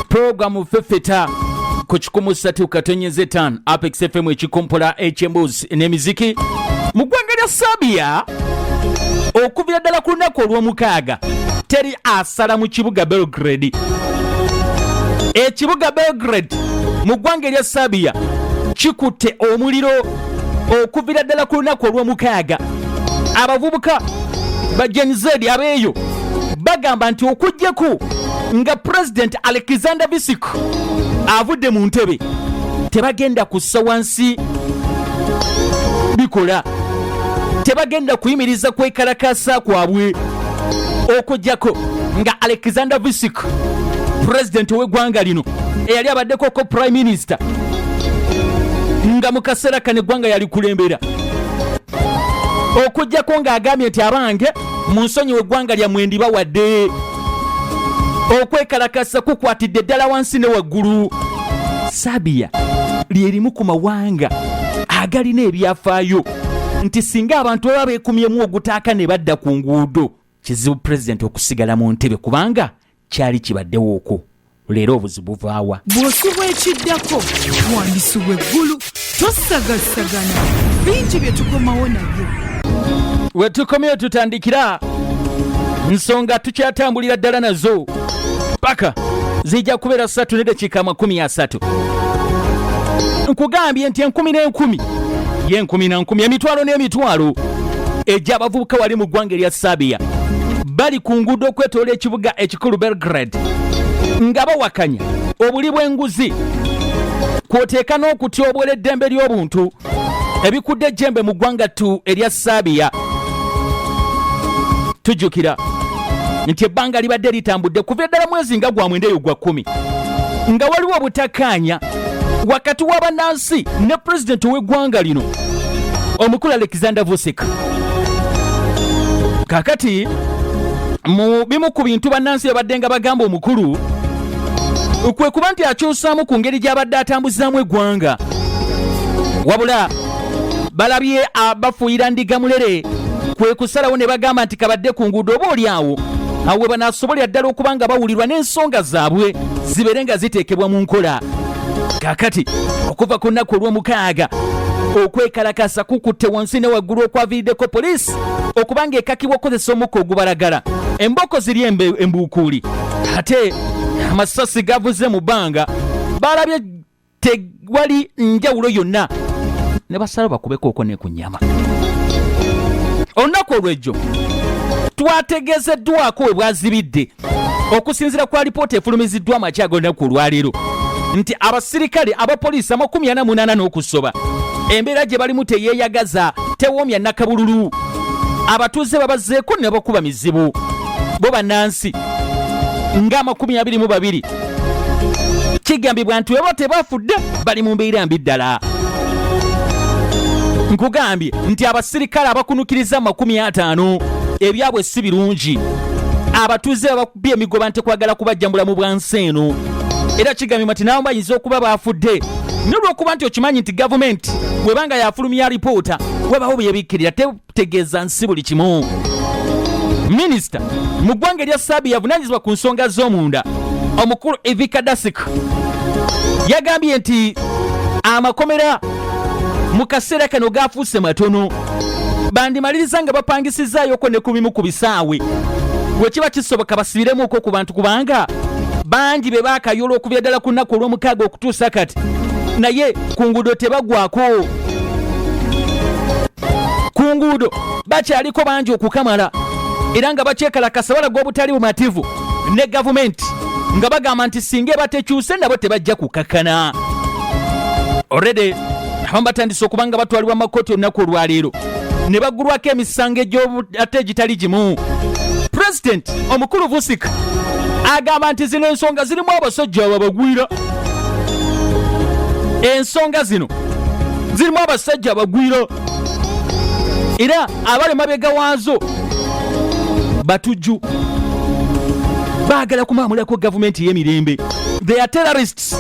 Programu fefeta ku kikumu ssatu katonyeze ttaano Apex FM ekikompola eky'emboozi n'emiziki mu ggwanga lya Serbia okuvira ddala ku lunaku olw'omukaaga teri asala mu kibuga Belgrade ekibuga Belgrade mu ggwanga erya Serbia kikutte omuliro okuvira ddala ku lunaku olw'omukaaga abavubuka ba Gen Z abeeyo bagamba nti okujjeko nga pulezidenti alexander bisik avudde mu ntebe tebagenda kussa wansi bikola tebagenda kuyimiriza kwekalakasa kwabwe okujjako nga alexander visik pulezidenti ow'eggwanga lino eyali abaddeko ko prime minister nga mu kaseera kano eggwanga yalikulembera okujjako ng'agambye nti abange munsonyiwa eggwanga lyamwe ndibawadde okwekalakasa kukwatidde ddala wansi ne waggulu sabiya lyerimu ku mawanga agalina ebyafaayo nti singa abantu baba beekumyemu ogutaaka ne badda ku nguudo kizibu pulezidenti okusigala mu ntebe kubanga kyali kibaddewo okwo leero obuzibu buvaawa bw'osubwa ekiddako wandisubwa eggulu tosagasagana bingi bye tukomawo nabyo we tukomyeyo tutandikira nsonga tukyatambulira ddala nazo paka zijja kubeera ssatu ne dakiika amakumi asatu nkugambye nti enkumi n'enkumi y'enkumi na nkumi emitwalo n'emitwalo egy'abavubuka wali mu ggwanga erya Serbia bali ku nguudo okwetoola ekibuga ekikulu Belgrade nga bawakanya obuli bw'enguzi kwoteeka n'okutyoboola eddembe ly'obuntu ebikudde ejjembe mu ggwanga tu erya Serbia tujjukira nti ebbanga libadde litambudde kuva eddala mwezi nga gwa mwenda eyo gwa kkumi nga waliwo obutakaanya wakati w'abannansi ne pulezidenti ow'eggwanga lino omukulu alexander vusik kakati mu bimu ku bintu bannansi babadde nga bagamba omukulu kwe kuba nti akyusaamu ku ngeri gy'abadde atambuzaamu eggwanga wabula balabye abafuuyira ndiga mulere kwe kusalawo ne bagamba nti kabadde ku nguudo oba oli awo awo we banaasobolera ddala okuba nga bawulirwa n'ensonga zaabwe zibeere nga ziteekebwa mu nkola kakati okuva ku nnaku olw'omukaaga okwekalakasa kukutte wansi ne waggulu okwaviiriddeko poliisi okuba ng'ekakibwa okukozesa omukka ogubalagala embooko ziri embuukuuli ate amasasi gavuze mu bbanga baalabye tewali njawulo yonna ne basala bakubekooko ne ku nyama olunaku olwejjo twategeezeddwako we bwazibidde okusinzira kwa lipoota efulumiziddwa amakya ag'olunaku olwaleero nti abasirikale abapoliisi amakumi ana munaana n'okusoba embeera gye balimu teyeeyagaza tewoomya nakabululu abatuuze babazzeeko ne bakuba mizibu bo bannansi ng'amakumi abiri mu babiri kigambibwa nti weba tebafudde bali mu mbeera mbi ddala nkugambye nti abasirikale abakunukiriza amakumi ataano ebyabwe si birungi abatuuze babakubye emigoba nti kwagala kubajjambula mu bwansi eno era kigambibwa nti nabo bayinza okuba baafudde nolwokuba nti okimanyi nti gavumenti webanga yafulumya alipoota webawo byebikkirira tegeeza nsi buli kimu minisita mu ggwanga erya saabi yavunanyizibwa ku nsonga z'omunda omukulu evika dasik yagambye nti amakomera mu kaseera kano gaafuuse matono bandimaliriza nga bapangisizzaayoko ne ku bimu ku bisaawe bwe kiba kisoboka basibiremuuko ku bantu kubanga bangi be baakayoola okubya ddala ku nnaku olw'omukaaga okutuusa kati naye ku nguudo tebagwako ku nguudo bakyaliko bangi okukamala era nga bakyekalakasa balaga obutali bumativu ne gavumenti nga bagamba nti singa ebatekyuse nabo tebajja kukakkana oredi abamu batandise okuba nga batwalibwa mu makooti olunaku olwaleero ne baggulwako emisango ate egitali gimu pulezidenti omukulu vusika agamba nti zino ensonga zirimu abasajja ababagwira ensonga zino zirimu abasajja abagwiro era abali mabega waazo batujju baagala kumaamulako gavumenti ey'emirembe they are terrorists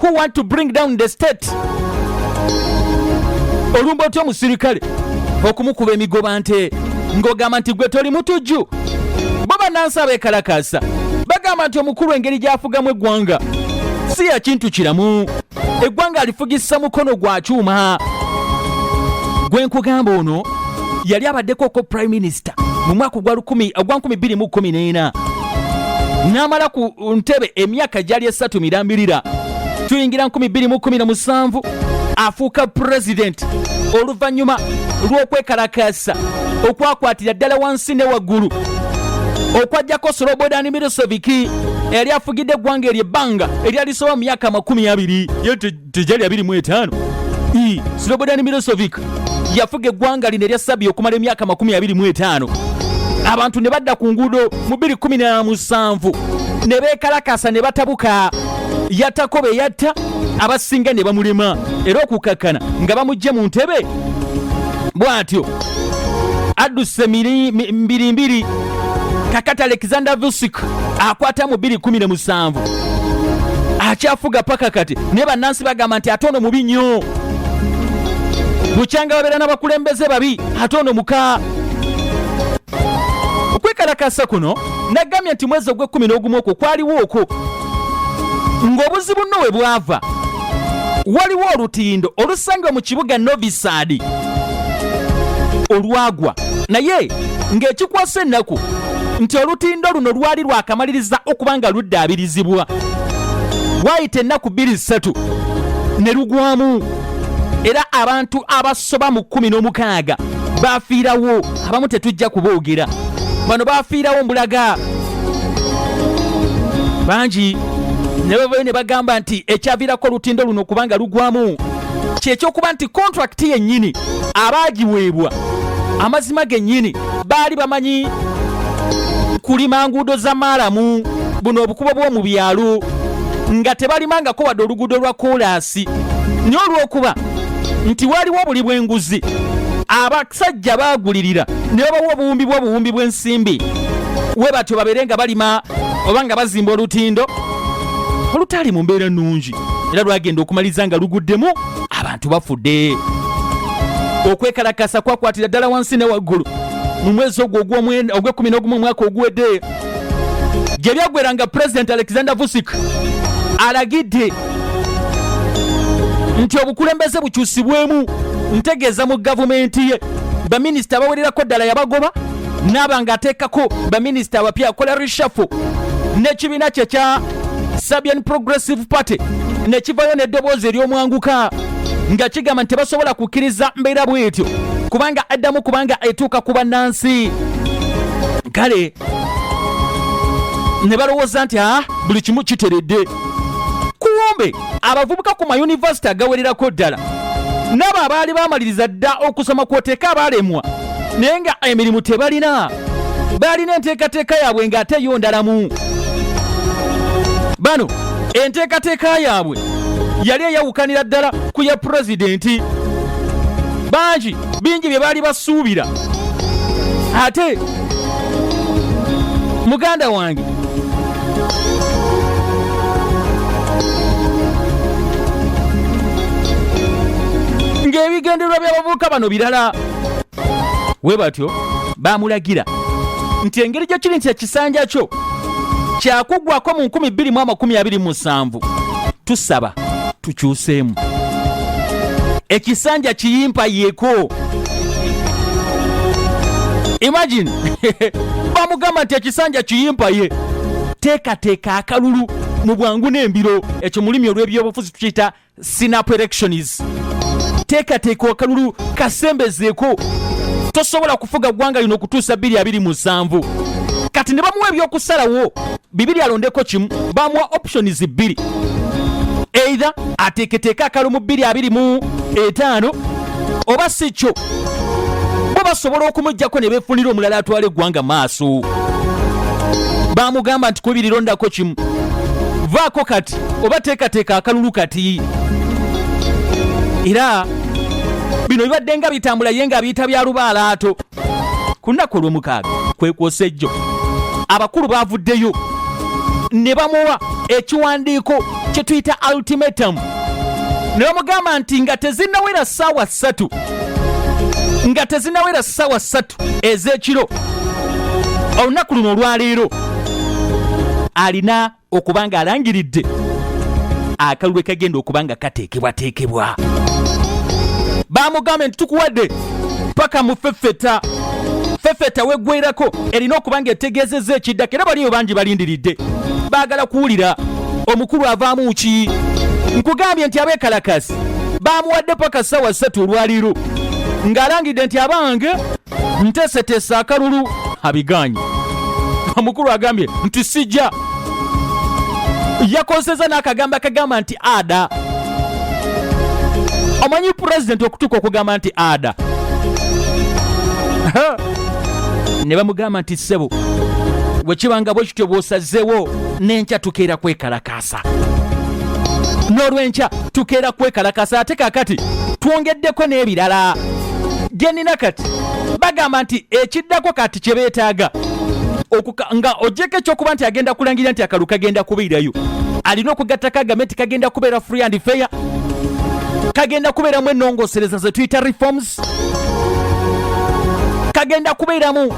who want to bring down the state olumba otya omusirikale okumukuba emigoba nte ng'ogamba nti gwe toli mutujju bo bannansi abeekalakaasa bagamba nti omukulu engeri gy'afugamu eggwanga si ya kintu kiramu eggwanga alifugisa mukono gwa kyuma gwe nkugamba ono yali abaddeko ko prime minister mu mwaka ogwa 2014 n'amala ku ntebe emyaka gyali esatu mirambirira tuyingira 2017 afuuka pulezidenti oluvannyuma lw'okwekalakaasa okwakwatira ddala wansi ne waggulu okwajjako slobodan miriseviki eyali afugidde eggwanga eryo ebbanga eryali soba mu myaka amakumi abiri ye tejali abiri mu etaano slobodan mirisevik yafuga eggwanga lino erya sabi okumala emyaka makumi abiri mu etaano abantu ne badda ku nguudo mu biri kumi na musanvu ne beekalakasa ne batabuka yattako be yatta abasinga ne bamulema era okukakkana nga bamugye mu ntebe bwatyo adduse mbirimbiri kakati alexander vusic akwata mu 217 akyafuga paka kati naye bannansi bagamba nti ate ono mubi nnyo bukyanga babeera n'abakulembeze babi ate ono muka okwekalakasa kuno nagambye nti mwezi ogw'ekkumi n'ogumu okwo kwaliwo okwo ng'obuzibu nno we bwava waliwo olutindo olusangibwa mu kibuga novisaadi olwagwa naye ng'ekikwasa ennaku nti olutindo luno lwali lwakamaliriza okuba nga luddaabirizibwa waayita ennaku bbiri ssatu ne lugwamu era abantu abasoba mu kkumi n'omukaaga baafiirawo abamu tetujja kuboogera bano bafiirawo mbulaga bangi ne bavayo ne bagamba nti ekyaviirako olutindo luno okuba nga lugwamu kyekyokuba nti kontrakiti yennyini abaagiweebwa amazima gennyini baali bamanyi kulima nguudo za maalamu buno obukubo bw'omu byalo nga tebalimangako wadde oluguudo lwa koolaasi naye olw'okuba nti waliwo buli bw'enguzi abasajja baagulirira ne babawa obuwumbi bw'obuwumbi bw'ensimbi we batyo babeere nga balima oba nga bazimba olutindo olutaali mu mbeera nnungi era lwagenda okumaliza nga luguddemu abantu bafudde okwekalakasa kwakwatira ddala wansi ne waggulu mu mwezi ogwo ogw'ekumi n'ogumu omwaka oguwedde gye byaggwera nga pulezidenti alexander vusic alagidde nti obukulembeze bukyusibwemu ntegeeza mu gavumenti ye baminisita abawererako ddala yabagoba naaba ng'ateekako baminisita abapya akola rishafo n'ekibiina kye kya Serbian Progressive Party ne kivayo n'eddoboozi ery'omwanguka nga kigamba nti tebasobola kukkiriza mbeera bw'etyo kubanga addamu kubanga etuuka ku bannansi kale ne balowooza nti a ah, buli kimu kiteredde kumbe abavubuka ku mayunivasite agawererako ddala n'abo abaali baamaliriza dda okusoma kwoteeka abaalemwa naye nga emirimu tebalina baalina enteekateeka yaabwe ng'ate yo ndalamu bano enteekateeka yaabwe yali eyawukanira ddala ku ya pulezidenti bangi bingi bye baali basuubira ate muganda wange ng'ebigendererwa by'abavubuka bano birala we batyo bamulagira nti engeri gye kiri nti ekisanja kyo kyakuggwako mu 2227 tusaba tukyuseemu ekisanja kiyimpa yeko imagine bamugamba nti ekisanja kiyimpa ye teekateeka akalulu mu bwangu n'embiro ekyo mulimi olw'ebyobufuzi tukiyita sinapu elections teekateeka akalulu kasembezeeko tosobola kufuga ggwanga lino okutuusa bbiri abiri musanvu kati ne bamuwa ebyokusalawo bibiri alondeko kimu bamuwa options bbiri eitha ateeketeeka akalu mu bbiri abiri mu etaano oba si kyo bo basobola okumugjako ne befunira omulala atwala eggwanga maaso bamugamba nti kubiri londako kimu vaako kati oba teekateeka akalulu kati era bino bibadde nga bitambula ye nga biyita bya lubaalaato ku nnaku olw'omukaaga kwekwosa ejjo abakulu baavuddeyo ne bamuwa ekiwandiiko kye tuyita ultimatum ne bamugamba nti nga tezinawera ssaawa ssatu nga tezinawera ssaawa ssatu ez'ekiro olunaku luno olwaleero alina okuba nga alangiridde akalulu ekagenda okuba nga kateekebwateekebwa bamugambe nti tukuwadde paka mufefeta fefeta weggwerako erina okuba nga etegeezezza ekiddako era baliyo bangi balindiridde baagala kuwulira omukulu avaamu ki nkugambye nti abekalakasi bamuwadde paka ssaawa ssatu olwaliiro ng'alangidde nti abange nteeseteese akalulu abiganye omukulu agambye nti sijja yakozeseza n'akagambo akagamba nti ada omanyi pulezidenti okutuuka okugamba nti ada ne bamugamba nti ssebo wekibanga bwe kityo bw'osazeewo n'enkya tukeera kwekalakaasa sa n'olwenkya tukeera kwekalakasa ate kakati twongeddeko n'ebirala genina kati bagamba nti ekiddako kati kye beetaaga nga ogyeko ekyokuba nti agenda kulangirira nti akalu kagenda kubeerayo alina okugattako agame nti kagenda kubeera free and fair kagenda kubeeramu enongosereza zetuyita reforms kagenda kubeeramu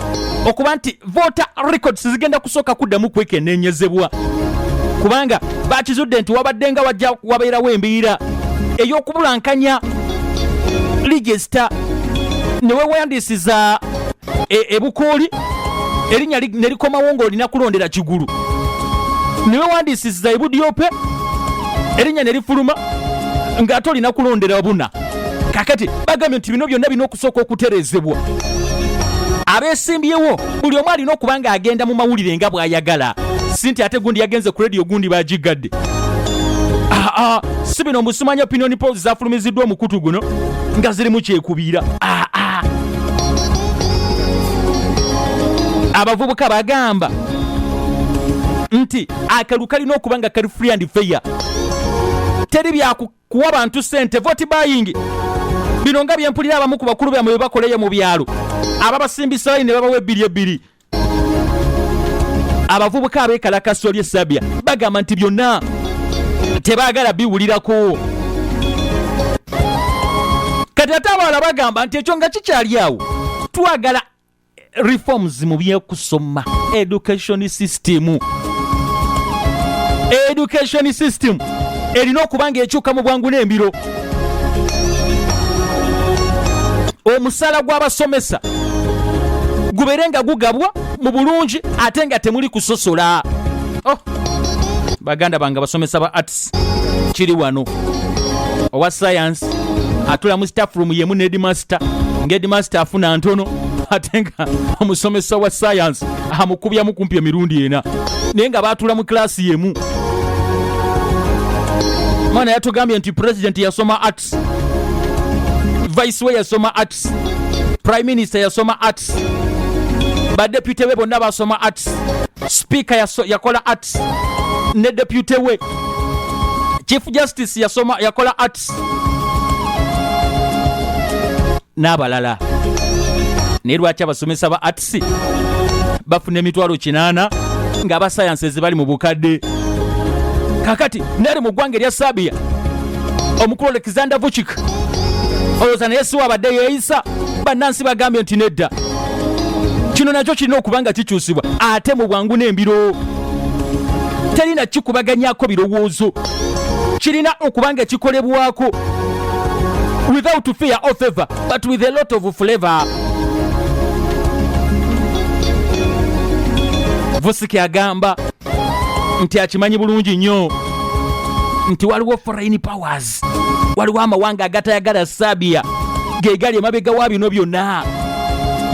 okuba nti voter records zigenda kusooka kuddamu kwekeneenyezebwa kubanga bakizudde nti wabadde nga wajja wabeerawo embiira ey'okubulankanya ligisita ne weewandiisiza e, ebukuuli erinnya ne likomawo ng'olina kulondera kigulu ne weewandiisiza ebudyope erinnya ne lifuluma ng'ate olina kulondera buna kakati bagambye nti bino byonna birina okusooka okuterezebwa abesimbyewo buli omu alina okuba nga agenda mu mawulire nga bw'ayagala si nti ate gundi yagenze ku rediyo gundi bagigadde ah, ah, si bino musumanya opinion pols zafulumiziddwa omukutu guno nga zirimu kyekubiira ah, abavubuka bagamba nti akalulu kalina okuba nga kali free and fair teri kuwa bantu sente voti bayingi bino nga byempulira abamu ku bakulu byamwe bebakoleyo mu byalo ababasimbisayo ne babawa ebbiri ebbiri abavubuka abekalakasa oli esabya bagamba nti byonna tebagala biwulirako kati ate abaala bagamba nti ekyo nga kikyali awo twagala reforms mu byekusoma education system education system erina okuba nga ekyuka mu bwangu n'embiro omusaala gw'abasomesa gubeere nga gugabwa mu bulungi ate nga temuli kusosola oh. baganda bange abasomesa ba facts kiri wano owa sayansi atula mu staff room yemu ne edmaster nga edmaster afuna ntono ate nga omusomesa wa sayansi amukubyamu kumpi emirundi ena naye nga batula mu kilasi yemu mwana yatugambye nti president yasoma art arts vice we yasoma arts prime minister yasoma arts badepute be bonna basoma arts speaker yakola arts ne depute we chief justice yasoma yakola arts n'abalala naye lwaki abasomesa ba arts science bafuna emitwalo kinaana nga aba science ezibali mu bukadde kakati nali mu ggwanga erya sabia omukulu alexander vuchik olowooza naye siwa abadde yeeyisa bannansi bagambye nti nedda kino nakyo kirina okuba nga kikyusibwa ate mu bwangu n'embiro teri na kikubaganyako birowoozo kirina okuba nga kikolebwako without fear or favor but with a lot of flavor. Vusiki agamba nti akimanyi bulungi nnyo nti waliwo foreign powers, waliwo amawanga agatayagala Serbia ge gali emabega wa bino byonna.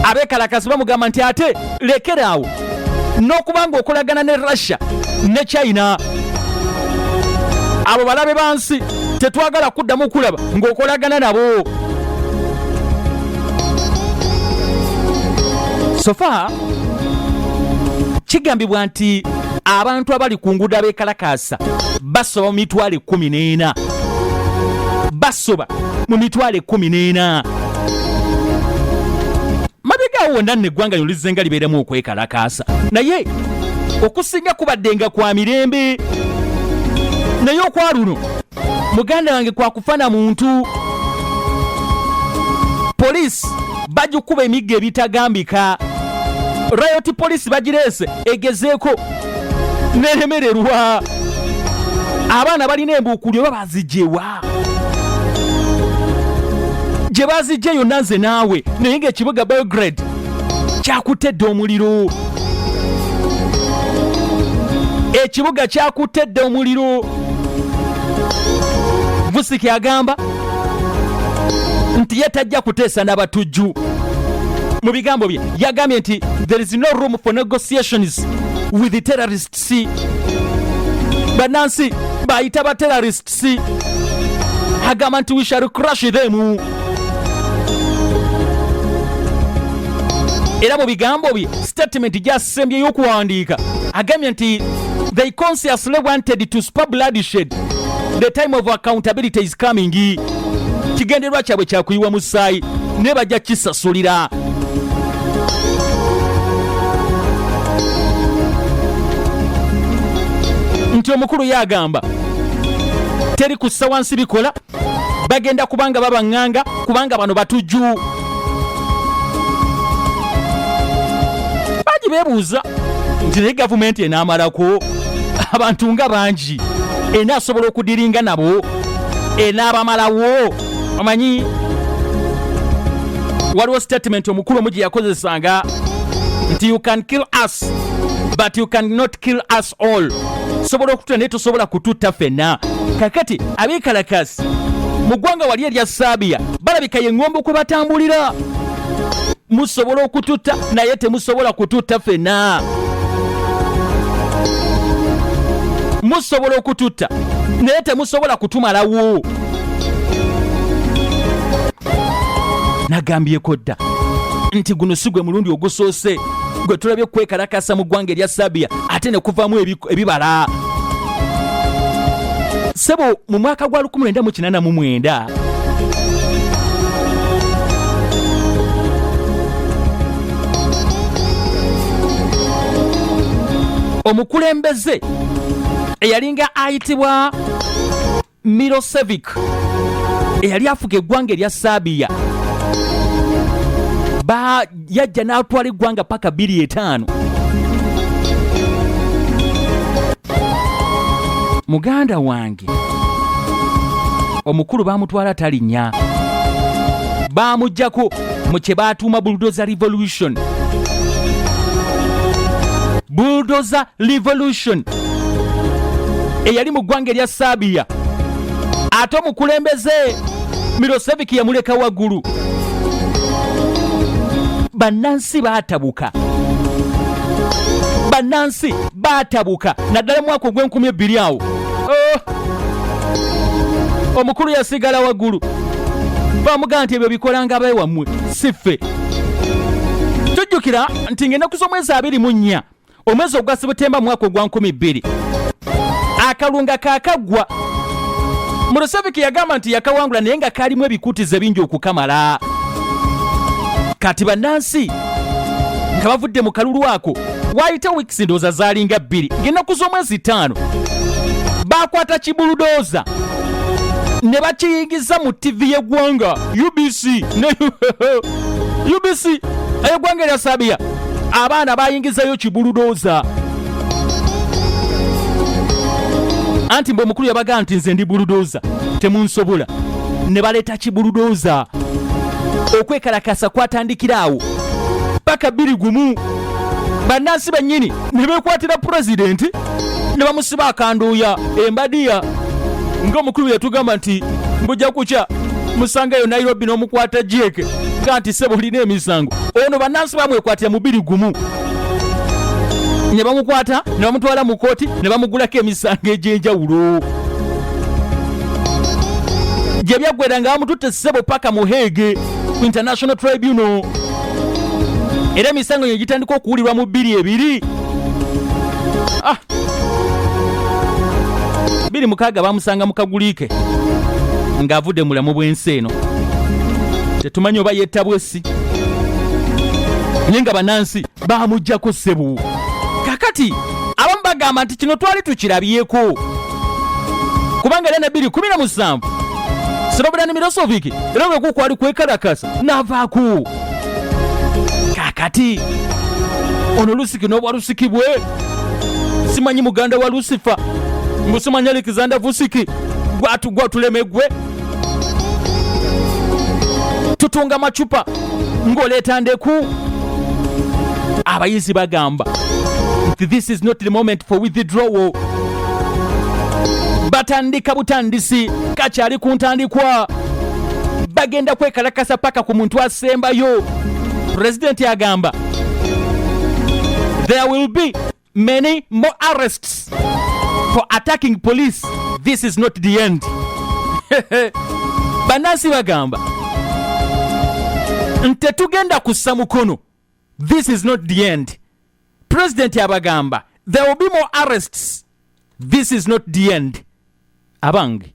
Abeekalakaasi bamugamba nti ate lekeraawo n'okuba nga okolagana ne russia ne china abo balabe bansi tetwagala kuddamu kulaba ng'okolagana nabo sofa kigambibwa nti abantu abali ku nguudo abeekalakaasa basoba mu mitwalo ekkumi n'ena basoba mu mitwalo ekkumi n'ena mabega awo wonna nno eggwanga lino lizenga libeeremu okwekalakaasa naye okusinga kubaddenga kwa mirembe naye okwa luno muganda wange kwakufana muntu poliisi bagikuba emigga ebitagambika rayoti poliisi bagireese egezeeko neremererwa abaana balina embuukulyo oba bazijewa gye bazijja yonna nze naawe naye ng'ekibuga belgrade kyakutte dda omuliro ekibuga kyakutte dda omuliro vusiki agamba nti ye tajja kuteesa n'abatujju mu bigambo bye yagambye nti there is no room for negotiations with the terrorists bannansi bayita ba terrorists si agamba nti we shall crush them era mu bigambo bye statement gyasembye y'okuwandiika agambye nti they consciously wanted to spur bloodshed the time of accountability is coming kigendererwa kyabwe kyakuyiwa musaayi ne bajja kisasulira nti omukulu ye agamba teri kussa wansi bikola bagenda kubanga babaŋŋanga kubanga bano batujju bangi beebuuza nti naye gavumenti enaamalako abantu nga bangi enaasobola okudiringa nabo enaabamalawo omanyi waliwo statement omukulu omu gye yakozesanga nti you can kill us but you can not kill us all sobola okutula naye tosobola kututta fenna kakati abekalakasi mu ggwanga wali erya saabiya balabika ye ŋŋombe kwe batambulira musobola okututta naye temusobola kututta fenna musobola okututta naye temusobola kutumalawo nagambyeko dda nti guno si gwe mulundi ogusoose gwe tulabye okwekalakasa mu ggwanga erya sabiya ate ne kuvaamu ebibala sebo mu mwaka gwa 1989 omukulembeze eyalinga ayitibwa Milosevic eyali afuga eggwanga erya Serbia ba yajja n'atwala eggwanga paka biri etaano muganda wange omukulu baamutwala talinya baamujjako mu kye baatuuma bulldozer revolution bulldozer revolution eyali mu ggwanga erya saabiya ate omukulembeze miroseviki yamuleka waggulu bannansi baatabuka bannansi baatabuka naddala mwaka ogw'enkumi ebbiri awo oh! omukulu yasigala waggulu bamugamba nti ebyo bikolanga abae wammwe si ffe tujjukira nti ng'ennaku z'omwezi abiri mu nnya omwezi ogwa sebutemba mwaka ogwa nkumi bbiri akalunga kakaggwa muruseviki yagamba nti yakawangula naye nga kalimu ebikutiza ebingi okukamala kati bannansi nga bavudde mu kalulu ako waayita weeks ndowooza zaalinga bbiri ng'ennaku z'omwezi ttaano baakwata kibuludooza ne bakiyingiza mu ttivi y'eggwanga ubc ne ubc ey'eggwanga erya sabiya abaana baayingizayo kibuludooza anti mbu omukulu yabagamba nti nze ndi buludooza temunsobola ne baleeta kibuludooza okwekalakasa kwatandikira awo paka bbiri gumu bannansi bennyini ne beekwatira pulezidenti ne bamusiba akanduuya embadiya ng'omukulu yatugamba nti mbujja kukya musangayo nairobi n'omukwata jeeke ga nti sebo olina emisango ono bannansi bamwekwatira mubiri gumu ne bamukwata ne bamutwala mu kooti ne bamugulako emisango egy'enjawulo gye byaggwera nga bamututte sebo paka muheege international tribunal era emisango gino gitandika okuwulirwa mu bbiri ebiri ah! biri mukaaga bamusanga mu kaguliike ng'avudde mu bulamu bw'ensi eno tetumanyi oba yettabwe si naye nga banansi bamujjako ssebu kakati abamu bagamba nti kino twali tukirabyeko kubanga era nabiri kumi na musanvu sirobera ne mirosoviki era bwekukwali kwekalakasa navaaku kakati ono lusiki n'obwa lusiki bwe simanyi muganda wa lusifa mbusimanya alexander vusiki gwatuleme gwe tutunga macupa ng'oleeta ndeku abayizi bagamba this is not the moment for withdrawal batandika butandisi kakyali ku ntandikwa bagenda kwekalakasa paka ku muntu asembayo pulezidenti agamba there will be many more arrests for attacking police this is not the end banansi bagamba ntetugenda kussa mukono this is not the end pulezidenti abagamba there will be more arrests this is not the end abange